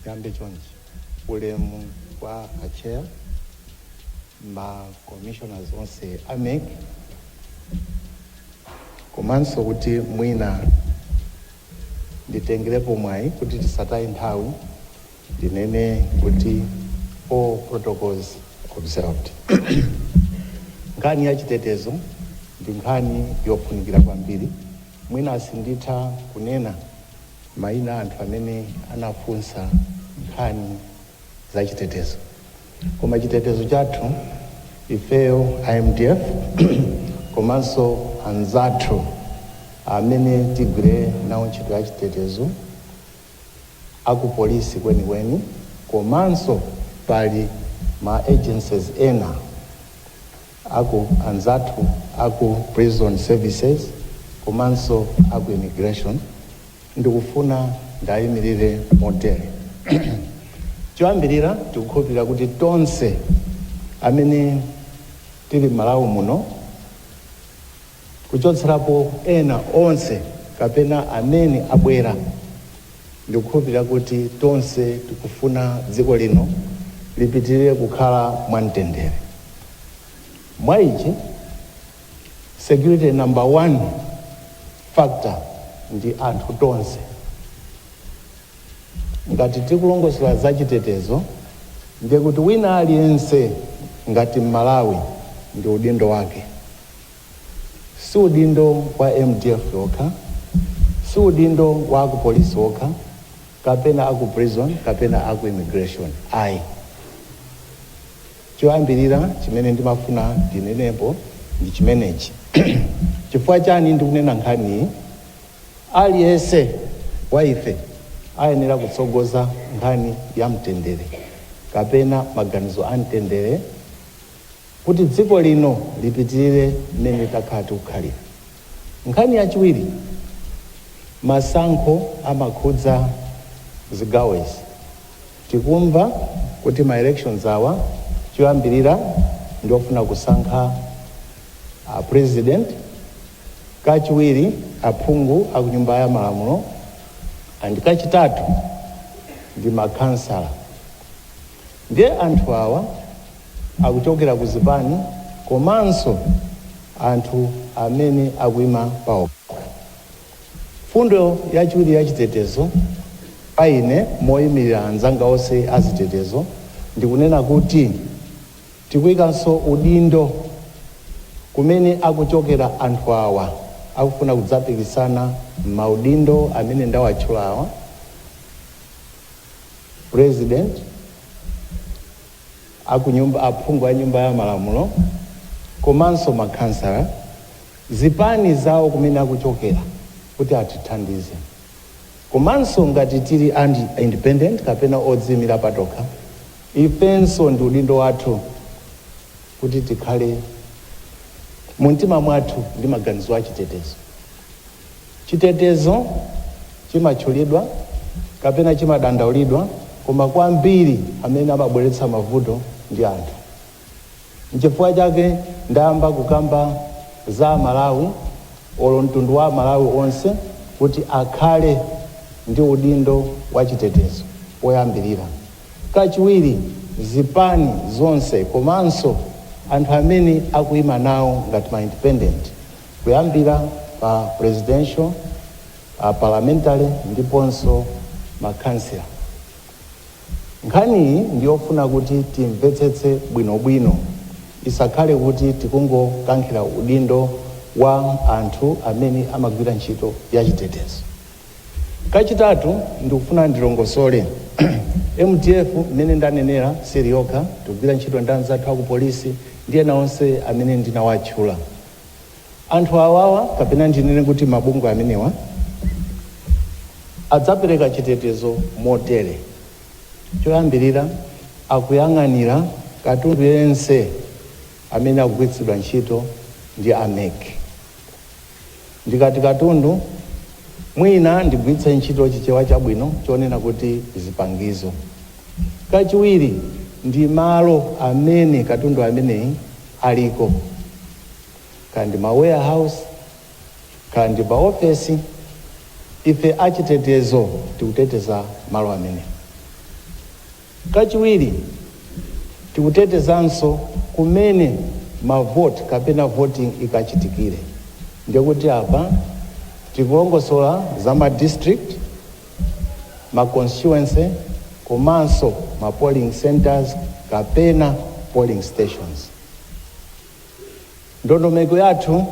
ndiyambe chonchi ulemu kwa achair ma commissioners onse a mec komanso kuti mwina nditengerepo mwayi kuti tisataye nthawi ndinene kuti all protocols observed. Nkhani ya chitetezo ndi nkhani yofunikira kwambiri, mwina sinditha kunena mayina a anthu amene anafunsa nkhani za chitetezo. Koma chitetezo chathu ifeyo a mdf komanso anzathu amene tigwire nawo ntchito ya chitetezo a ku polisi kwenikweni komanso pali ma agencies ena, aku anzathu aku prison services komanso aku immigration ndikufuna ndiayimilire motere choyambilira tikukhulupilira kuti tonse amene tili m'malawi muno, kuchotserapo ena onse kapena amene abwera. Ndikukhulupirira kuti tonse tikufuna dziko lino lipitirire kukhala mwa mtendere. Mwa ichi, security number one factor ndi anthu tonse. Ngati tikulongosolera za chitetezo, ndiye kuti wina aliyense ngati M'malawi ndi udindo wake. si udindo wa mdf yokha si udindo wa akupolisi okha kapena aku prison kapena aku immigration ayi choyambirira chimene ndimafuna ndinenepo ndi chimenechi chifukwa chani ndikunena nkhaniyi aliyense wa ife ayenera kutsogoza nkhani ya mtendere kapena maganizo a mtendere Kuti dziko lino lipitirire mmene takhala tikukhalira. Nkhani yachiwiri, masankho amakhudza zigawo izi. Tikumva kuti ma elections awa choyambirira ndi ofuna kusankha a president, kachiwiri aphungu a ku nyumba ya malamulo and kachitatu ndi ma khansala. Ndiye anthu awa. akuchokera ku zipani komanso anthu amene akuima pao. Mfundo yachiwiri ya chitetezo pa ine moimirira anzanga onse a zitetezo ndi kunena kuti tikuikanso udindo kumene akuchokera anthu awa akufuna kudzapikisana m'maudindo amene ndawatchula awa, President, akunyumba, aphungu a nyumba ya malamulo komanso makhansala, zipani zawo kumene akuchokera kuti atithandize. Komanso ngati tili independent kapena odziimira patokha, ifenso ndi udindo wathu kuti tikhale mumtima mwathu ndi maganizo achitetezo. Chitetezo chimatchulidwa kapena chimadandaulidwa koma kwambiri amene amabweretsa mavuto ndi anthu. Nchifukwa chake ndayamba kukamba za Amalawi olo mtundu wa Amalawi onse kuti akhale ndi udindo wa chitetezo woyambirira. Kachiwiri zipani zonse komanso anthu amene akuima nawo ngati ma independent kuyambira pa presidential, a parliamentary ndiponso makhansala. Nkhaniyi ndi yofuna kuti timvetsetse bwinobwino isakhale kuti tikungokankhira udindo wa anthu amene amagwira ntchito ya chitetezo. Kachitatu, ndikufuna ndilongosole, mdf mmene ndanenera sili yokha, tikugwira ntchito ndi anzathu a ku polisi ndi ena onse amene ndinawatchula. Anthu awawa kapena ndinene kuti mabungwe amenewa adzapereka chitetezo motere, choyambirira akuyang'anira katundu yense amene akugwiritsidwa ntchito ndi a mec. Ndikati katundu mwina ndigwiritse ntchito chichewa chabwino chonena kuti zipangizo. Kachiwiri ndi malo amene katundu ameneyi. aliko, kaya ndi ma warehouse, kaya ndi ma ofesi, ife achitetezo tikuteteza malo amene. Kachiwiri, tikutetezanso kumene ma vote kapena voting ikachitikire, ndekuti apa tikulongosola za ma district, ma constituency komanso ma polling centres kapena polling stations. Ndondomeko yathu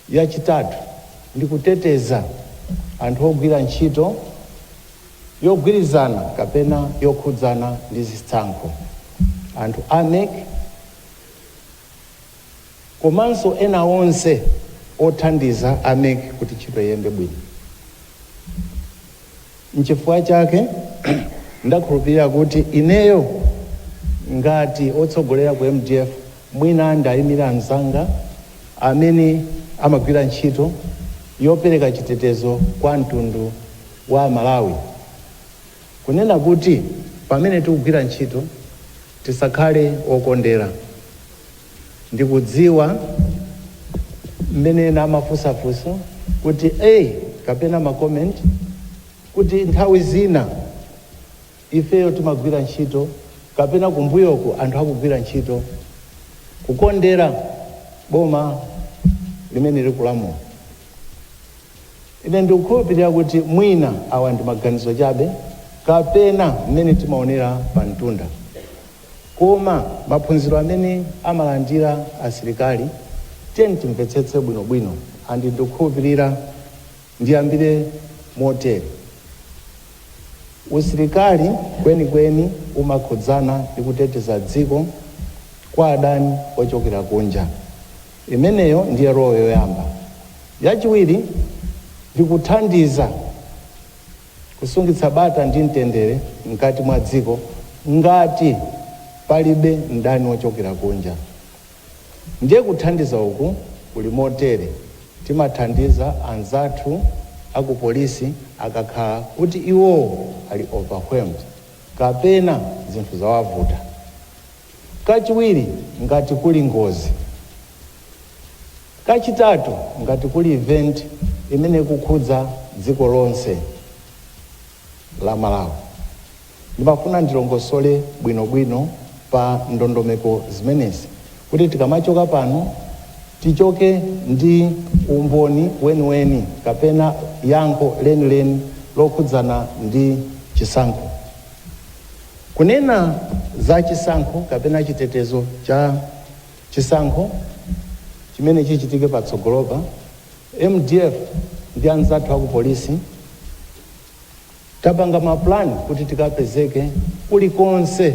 yachitatu ndi kuteteza anthu ogwira ntchito yogwirizana kapena yokhudzana ndi zitsankho, anthu a mec, komanso ena onse othandiza a mec kuti ntchito iyende bwino. N'chifukwa chake ndakhulupirira kuti ineyo ngati wotsogolera ku mdf mwina ndiyimire anzanga amene amagwira ntchito yopereka chitetezo kwa mtundu wa Malawi kunena kuti pamene tikugwira ntchito tisakhale okondera. Ndikudziwa mmene ena amafunsafunsa kuti a kapena ma comment kuti nthawi zina ifeyo timagwira ntchito kapena kumbuyoku anthu akugwira ntchito kukondera boma limene likulamula. Ine ndikukhulupirira kuti mwina awa ndi maganizo chabe kapena mmene timaonera pamtunda. Koma maphunziro amene amalandira asilikali tiyeni timvetsetse bwinobwino and ndikukhulupirira ndiyambire motere, usilikali kwenikweni umakhudzana ndi kuteteza dziko kwa adani ochokera kunja, imeneyo ndiye role yoyamba, yachiwiri ndi kuthandiza. kusungitsa bata ndi mtendere mkati mwa dziko ngati palibe mdani wochokera kunja. Ndiye kuthandiza uku kuli motere, Timathandiza anzathu a ku polisi akakhala kuti iwowo ali overwhelmed kapena zinthu zawavuta. Kachiwiri, ngati kuli ngozi. Kachitatu, ngati kuli event imene ikukhudza dziko lonse la Malawi, ndimafuna ndilongosole bwinobwino pa ndondomeko zimenezi kuti tikamachoka pano tichoke ndi umboni weniweni kapena yankho lenileni lokhudzana ndi chisankho. Kunena za chisankho kapena chitetezo cha. Chisankho chimene chichitike patsogolopa, mdf ndi anzathu aku polisi tapanga ma plan kuti tikapezeke kulikonse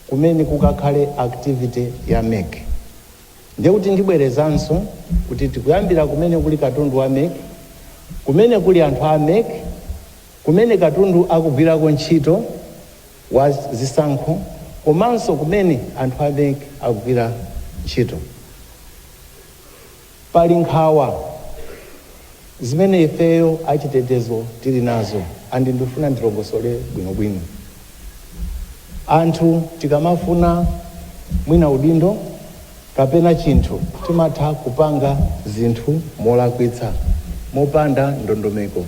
kumene kukakhale activity ya mec. Ndiye kuti ndibwerezanso kuti tikuyambira kumene kuli katundu wa mec, kumene kuli anthu a mec, kumene katundu akugwirako ntchito, wa zisankho komanso kumene anthu a mec akugwira ntchito. Pali nkhawa zimene ifeyo achitetezo tili nazo and ndifuna ndilongosole bwinobwino. Anthu tikamafuna mwina udindo kapena chinthu timatha kupanga zinthu molakwitsa, mopanda ndondomeko.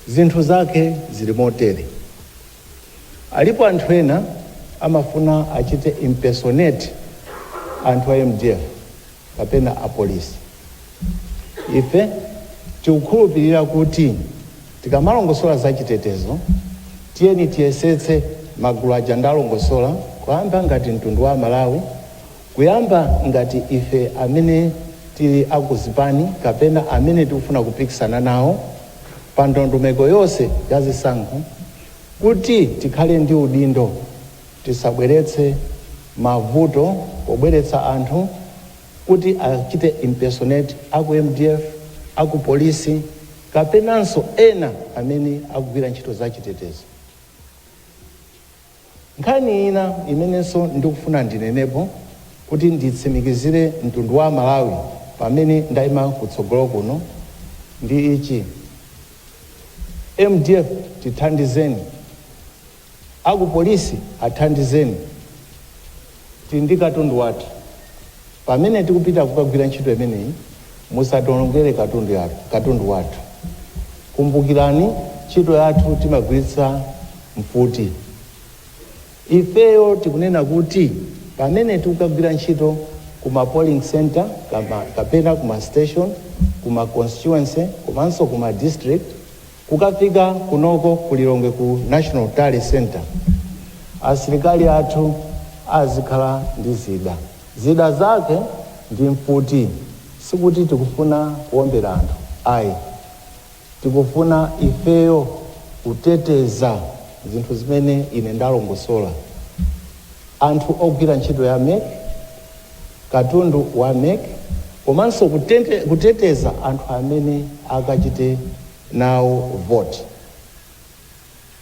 Zinthu zake zili motere, alipo anthu ena amafuna achite impersonate anthu a mdf kapena a polisi. Ife tikukhulupilira kuti tikamalongosola za chitetezo tiyeni tiyesetse magulu aja ndalongosola kuyamba ngati mtundu wa amalawi Kuyamba ngati ife amene tili a ku zipani kapena amene tikufuna kupikisana nawo pa ndondomeko yonse ya zisankho kuti tikhale ndi udindo tisabweretse mavuto pobweretsa anthu kuti achite impersonate a ku mdf, a ku polisi kapenanso ena amene akugwira ntchito za chitetezo. Nkhani ina imenenso ndikufuna ndinenepo kuti nditsimikizire mtundu wa Malawi pamene ndaima kutsogolo kuno ndi ichi, mdf tithandizeni, aku polisi athandizeni. Tili ndi katundu wathu. Pamene tikupita kukagwira ntchito imeneyi, musationongere katundu wathu. Kumbukirani, ntchito yathu timagwiritsa mfuti. Ifeyo tikunena kuti pamene tikukagwira ntchito ku ma polling centre kapena ku ma station, ku ma constituency komanso ku ma district, Kukafika kunoko ku Lilongwe ku National Tally Centre asilikali athu azikhala ndi zida. Zida zake ndi mfuti. Sikuti tikufuna kuombera anthu ayi. Tikufuna ifeyo kuteteza zinthu zimene ine ndalongosola. Anthu ogwira ntchito ya mec, katundu wa mec komanso kuteteza anthu amene akachite nawo vote.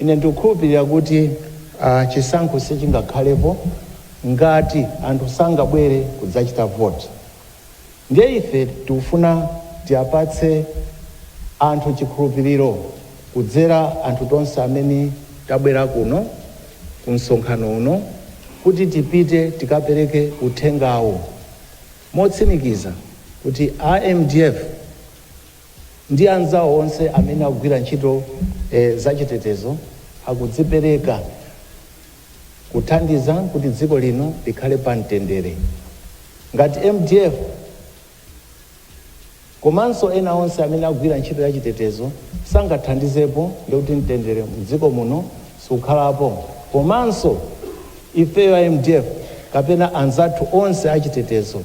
Ine ndikukhulupilira kuti chisankho sichingakhalepo ngati anthu sangabwere kudzachita vote. Ndiye ife tikufuna tiapatse anthu chikhulupiliro kudzera anthu tonse amene tabwera kuno ku msonkhano uno kuti tipite tikapereke uthengawo motsimikiza kuti a mdf ndi anzawo onse amene akugwira ntchito zachitetezo akudzipereka kuthandiza kuti dziko lino likhale pa mtendere. Ngati mdf komanso ena onse amene akugwira ntchito ya chitetezo sangathandizepo ndikuti mtendere mdziko muno sukhalapo komanso ifeyo a mdf kapena anzathu onse achitetezo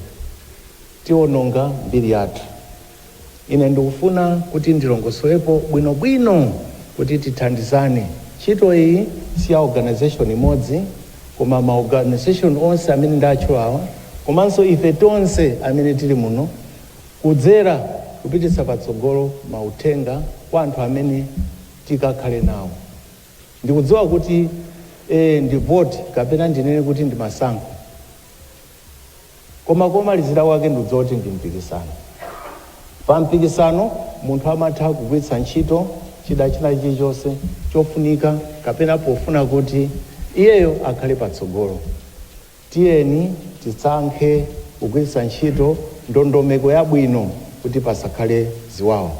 tiononga mbiri yathu. Ine ndikufuna kuti ndilongosolepo bwinobwino kuti tithandizane. Ntchito iyi si ya organization imodzi koma ma organization onse amene ndatchulawa komanso ife tonse amene tili muno kudzera kupititsa patsogolo mauthenga kwa anthu amene tikakhale nawo. Ndikudziwa kuti ee ndi vote kapena ndinene kuti ndi masankho. koma komalizira kwake ndikudziwa kuti ndi mpikisano. Pa mpikisano munthu amatha kugwiritsa ntchito chida china chilichonse chofunika kapena pofuna kuti iyeyo akhale patsogolo. Tiyeni tisankhe kugwiritsa ntchito ndondomeko yabwino kuti pasakhale ziwawa.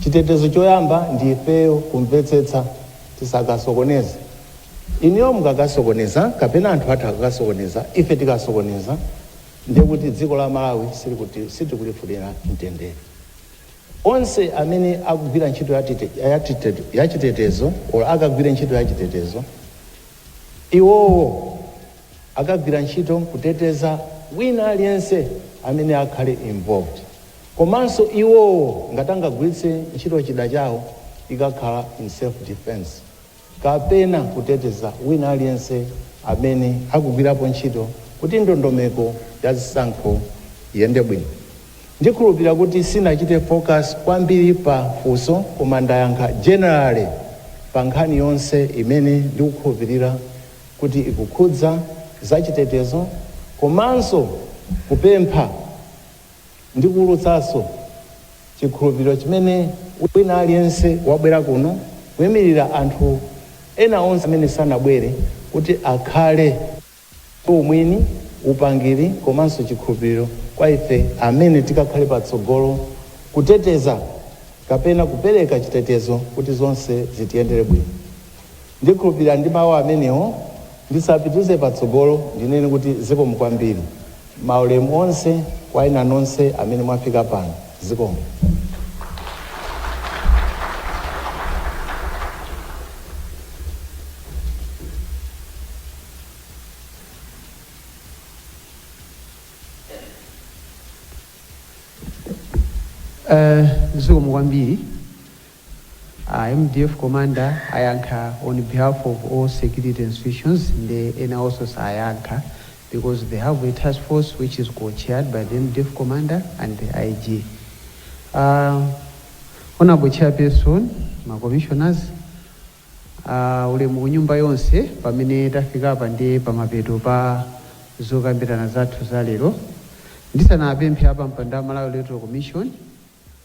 Chitetezo choyamba ndi ifeyo kumvetsetsa tisakasokoneze. Inuyo mukakasokoneza kapena anthu athu akakasokoneza ife tikasokoneza ndiye kuti dziko la Malawi sitikulifunira mtendere. Onse amene akugwira ntchito ya chitetezo or akagwire ntchito ya chitetezo iwowo akagwira ntchito kuteteza wina aliyense amene akhale involved komanso iwowo ngati angagwiritse ntchito chida chawo ikakhala in self defence. kapena kuteteza wina aliyense amene akugwirapo ntchito kuti ndondomeko ya zisankho iyende bwino. Ndikhulupilira kuti sinachite focus kwambiri pa funso koma ndayankha generally pa nkhani yonse imene ndikukhulupilira kuti ikukhudza zachitetezo komanso kupempha ndi kuwulutsanso chikhulupiriro chimene wina aliyense wabwera kuno, kuimirira anthu ena onse amene sanabwere, kuti akhale ndi umwini, upangiri komanso chikhulupiriro kwa ife amene tikakhale patsogolo kuteteza kapena kupereka chitetezo kuti zonse zitiyendere bwino. Ndikhulupirira ndi mawu amenewo ndisapitize patsogolo ndinene kuti zikomo kwambiri. Maulemu onse kwa inu nonse amene mwafika pano. Zikomo. Zikomo kwambiri. A mdf commander ayankha on behalf of all security institutions nde enawonso sayankha because they have a task force which is co-chaired by the mdf commander and the IG. A Honourable Chairperson, ma commissioners, ulemu kunyumba yonse pamene tafikapa nde pamapeto pa zokambirana zathu za lero. Ndisanapemphe apampando a Malawi Electoral Commission,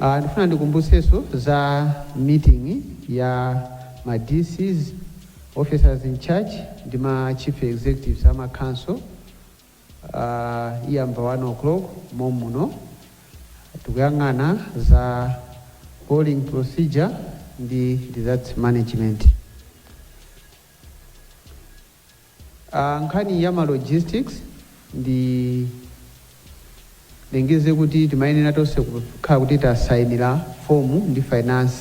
Aaa ndifuna ndikumbutsenso za meeting ya ma DCs, officers in charge, ndi ma chief executives a ma council aaa iyamba 1 o'clock mom'muno tikuyang'ana za polling procedure ndi results management. A, nkhani ya ma logistics ndilengeze kuti timayenera tonse kukhala kuti tasainira form ndi finance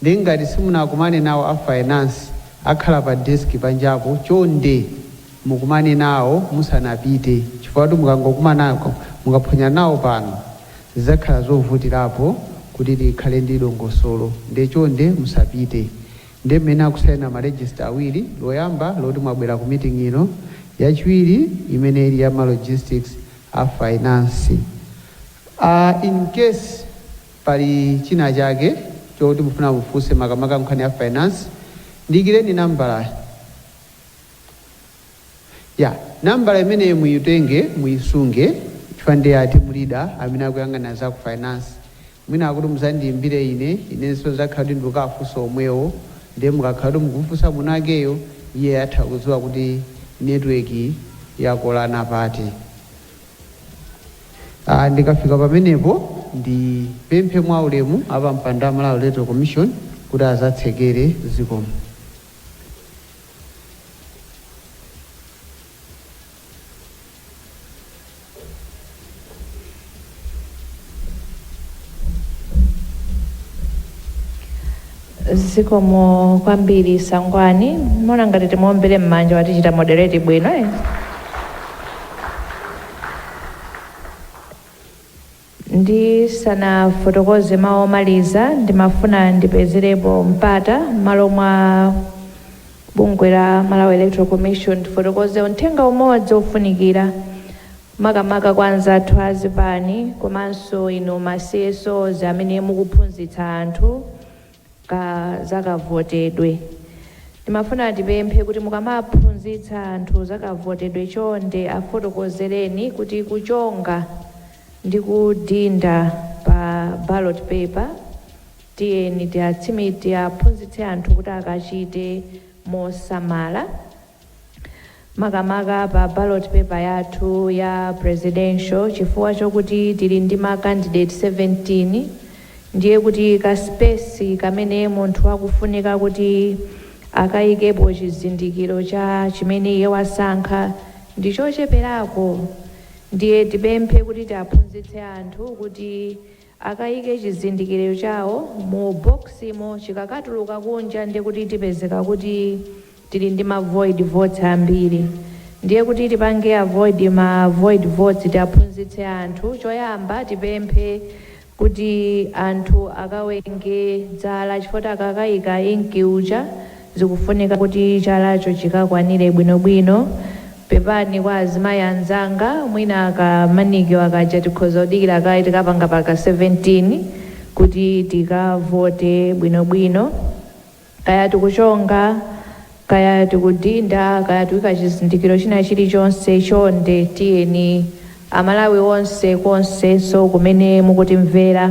nde ngati simunakumane nawo a finance akhala pa desk panjapo chonde mukumane nawo musanapite chifukwa kuti mukangokumanako mukaphonya nawo pano zidzakhala zovutirapo kuti tikhale ndi dongosolo nde chonde musapite. Ndiye mmene akusaina ma register awiri, loyamba loti mwabwera ku meeting ino, yachiwiri imene ili ya ma logistics a finance. Aaa in case pali china chake choti mufuna mufunse makamaka nkhani ya finance, ndiyikireni nambalayi. Ya, nambala imeneyo muitenge, muisunge chifukwa ndi ya team leader amene akuyang'anira za ku finance. Mwina akuti mudzandiimbire ine, inenso ndidzakhala kuti ndikukawafunsa omwewo. Ndiye mukakhala kuti mukumufunsa mwinawakeyo, iye atha kudziwa kuti network yakolana pati. Ah, ndikafika pamenepo ndipemphe mwaulemu apampando a Malawi Electoral Commission kuti adzatsekere. Zikomo. zikomo kwambiri Sangwani ndimaona ngati timuombere m'manja watichita moderate bwino eh? Ndisanafotokoze mau omaliza, ndimafuna ndipezerepo mpata m'malo mwa bungwe la Malawi Electoral Commission ndifotokoze uthenga umodzi ofunikira makamaka kwa anzathu a zipani komanso inu ma CSOs amene mukuphunzitsa anthu ka zakavotedwe. Timafuna tipemphe kuti mukamaphunzitsa anthu zakavotedwe chonde afotokozereni kuti kuchonga ndi kudinda pa ballot paper tiyeni tiatsimik tiaphunzitse anthu kuti akachite mosamala. makamaka pa ballot paper yathu ya presidential chifukwa chokuti tili ndi ma candidate 17 ndiye kuti ka space kamene munthu akufunika kuti akayikepo chizindikiro cha chimene iye wasankha ndi chocheperako ndiye tipemphe kuti tiaphunzitse anthu kuti Akayike chizindikiro chawo mu box mo chikakatuluka kunja ndiye kuti tipezeka kuti tili ndi ma void votes ambiri ndiye kuti tipange avoid ma void votes tiaphunzitse anthu choyamba tipemphe kuti anthu akawenge zala chifukwa choti akakayika ink uja zikufunika kuti chalacho chikakwanile bwino bwino, pepani kwa azimayi anzanga mwina ka manicure kaja tikhoza kudikila kaye tikapanga pa 17 kuti tikavote bwino bwino, kaya tikuchonga kaya tikudinda kaya tikuika chizindikilo china chili chonse chonde tiyeni amalawi onse konsekonse kumene mukutimvera.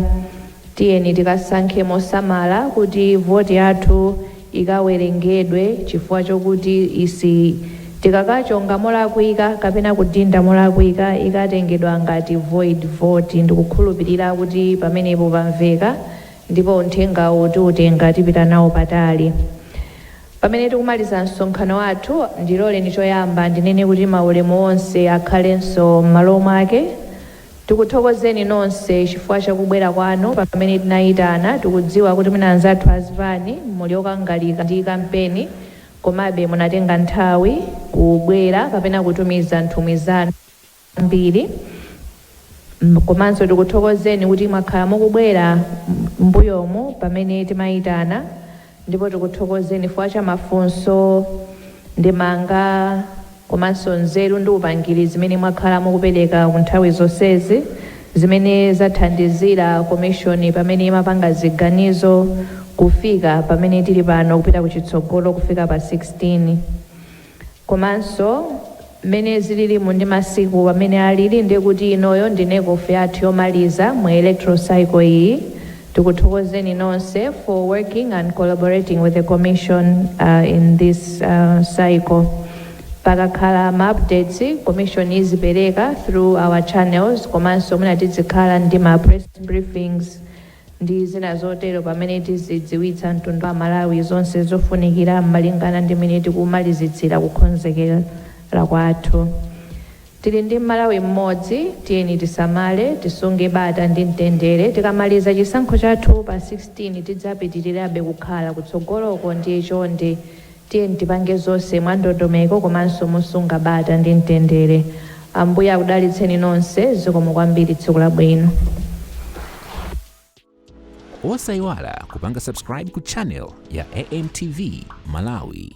Tiyeni tikasankhe mosamala kuti voti yathu ikawerengedwe chifukwa chokuti isi tikakachonga molakwika kapena kudinda molakwika ikatengedwa ngati void vote ndikukhulupilira kuti pamenepo pamveka ndipo uthengawu tiutenga tipita nawo patali pamene tikumaliza msonkhano wathu ndiloleni choyamba ndinene kuti maulemu onse akhalenso m'malo mwake Tikuthokozeni nonse chifukwa cha kubwera kwanu pamene tinayitana. Tikudziwa kuti mwina anzathu a zipani muli okangalika ndi kampeni komabe munatenga nthawi kubwera kapena kutumiza nthumwi zanu zambiri komanso tikuthokozeni kuti mwakhala mukubwera m'mbuyomu pamene timayitana. Ndipo tikuthokozeni chifukwa cha mafunso, ndemanga komanso nzeru ndi upangiri zimene mwakhala mukupereka ku nthawi zonsezi zimene zathandizira komishoni pamene imapanga ziganizo kufika pamene tili pano kupita kuchitsogolo kufika pa 16. Komanso mmene zililimu ndi masiku amene alili ndiye kuti inoyo ndi NECOF yathu yomaliza mu electoral cycle iyi. Tikuthokozeni nonse for working and collaborating with the commission in this cycle. Pakakhala ma updates commission izipereka through our channels komanso mwina tizikhala ndi ma press briefings. ndi zina zotero pamene tizidziwitsa mtundu wa Malawi zonse zofunikira malingana ndi mmene tikumalizitsira kukonzekera kwathu. Tili ndi Malawi mmodzi, tiyeni tisamale, tisunge bata ndi mtendere, tikamaliza chisankho chathu pa 16 tidzapitilirabe kukhala kutsogoloko ndiye chonde Tiyeni tipange zonse mwandondomeko komanso mosunga bata ndi mtendere. Ambuye akudalitseni nonse. Zikomo kwambiri. Tsiku labwino. Osaiwala kupanga subscribe ku channel ya AMTV Malawi.